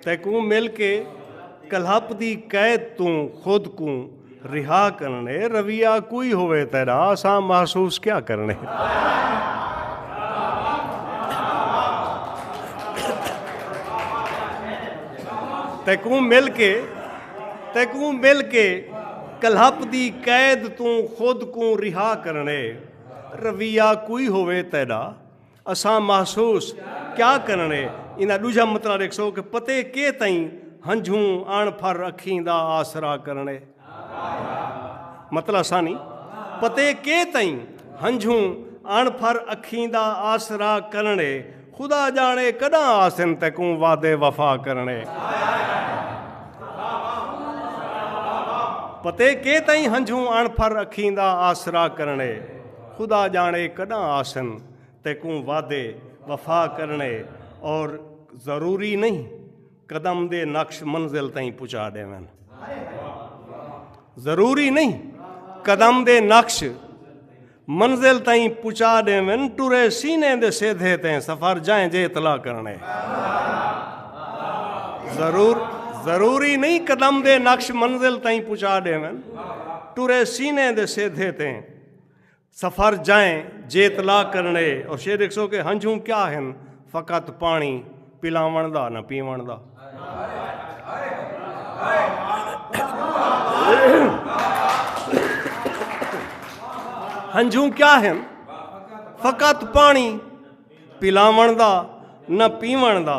تیکوں مل کے کلہپ دی قید توں خود کوں رہا کرنے رویہ کوئی ہوئے تیرا اساں محسوس کیا کرنے تیکوں مل کے تیکوں مل کے کلہپ دی قید توں خود کوں رہا کرنے رویہ کوئی ہوئے تیرا اساں محسوس کیا کرنڑے ایندا ڈوجھا مطلع ڈیکھسو کہ پتے کے تئیں ہنجھوں اݨ پھر اکھیں دا آسرا کرنڑے مطلع ثانی پتے کے تئیں ہنجھوں اݨ پھر اکھیں دا آسرا کرنڑے خدا جانڑے کڈاں آسن تیکوں وعدے وفا کرنڑے پتے کے تئیں ہنجھوں اݨ پھر اکھیں دا آسرا کرنڑے خدا ڄاݨے کݙاں آسن تیکوں وعدے وفا کرݨے اور ضروری نئیں قدم دے نقش منزل تئیں پچا ݙیون ضروری نئیں قدم دے نقش منزل تئیں پچا ݙیون ٹرے سینے دے سیدھے تئیں سفر جائیں جے اطلاع کرنے ضرور ضروری نہیں قدم دے نقش منزل تائیں پہنچا ڈیون ٹرے سینے دے سیدھے تیں سفر جائیں جیت لا کرنے اور شیر ایک سو کے ہنجھوں کیا ہن فقط پانی پلاون دا نہ پیون دا ہنجھوں کیا ہن فقط پانی پلاون دا نہ پیون دا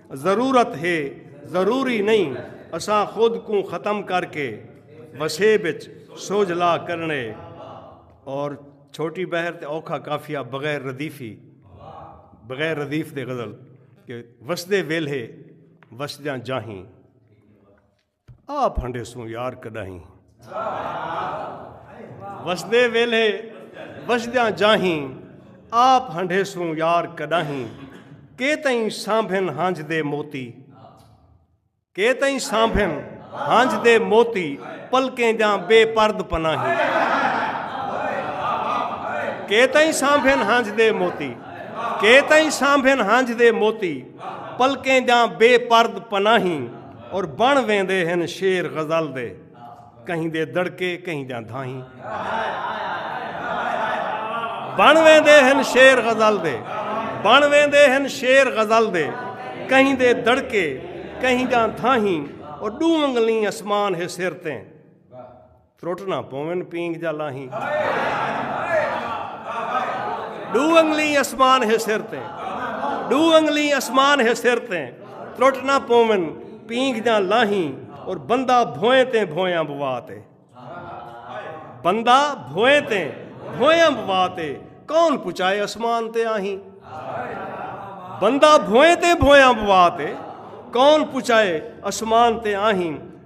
ضرورت ہے ضروری نئیں اساں خود کوں ختم کر کے وسیب اچ سوجھلا کرݨے اور چھوٹی بحر تے اوکھا قافیہ بغیر ردیفی بغیر ردیف دے غزل کہ وسدے ویلھے وسدیاں جاہیں آ پھنڈے سوں یار کڈاہیں وسدے ویلھے وسدیاں جاہیں آ پھنڈے سوں یار کڈاہیں کے تئیں سانبھن ہنج دے موتی کے تئیں سانبھن ہنج دے موتی پلکیں جاں بے پرد پناہیں کے تئیں سانبھن ہنج دے موتی کے تئیں سانبھن ہنج دے موتی پلکیں جاں بے پرد پناہیں اور بن ویندے ہن شعر غزل دے کہیں دے دڑکے کہیں دیاں دھائیں بن ویندے ہن شعر غزل دے بن ویندے ہن شعر غزل دے کہیں دے دڑکے کہیں دیاں دھائیں اور ڈو انگلیں اسمان ہے سر تیں ترٹ نہ پوون پینگ جا لاہیں ڈو انگلیں اسمان ہے سر تے ڈو انگلیں اسمان ہے سر تے ترٹ نہ پوون پینگ جا لاہیں اور بندہ بھوئیں تے بھویاں بوا تے بندہ بھوئیں تے بھویاں بوا تے کون پچائے اسمان تے آہیں بندہ بھوئیں تے بھویاں بوا تے کون پچائے اسمان تے آہیں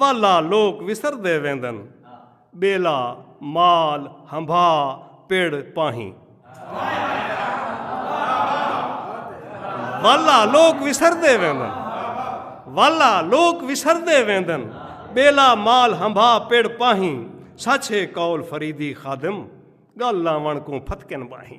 والا لوک وسردے ویندن ٻیلا مال ہنبھا پڑ پاہیں۔ والا لوک وسردے ویندن والا لوک وسردے ویندن ٻیلا مال ہنبھا پڑ پاہیں سچ ہے قول فریدی خادم گل لاوݨ کوں پھتکن ٻاہیں۔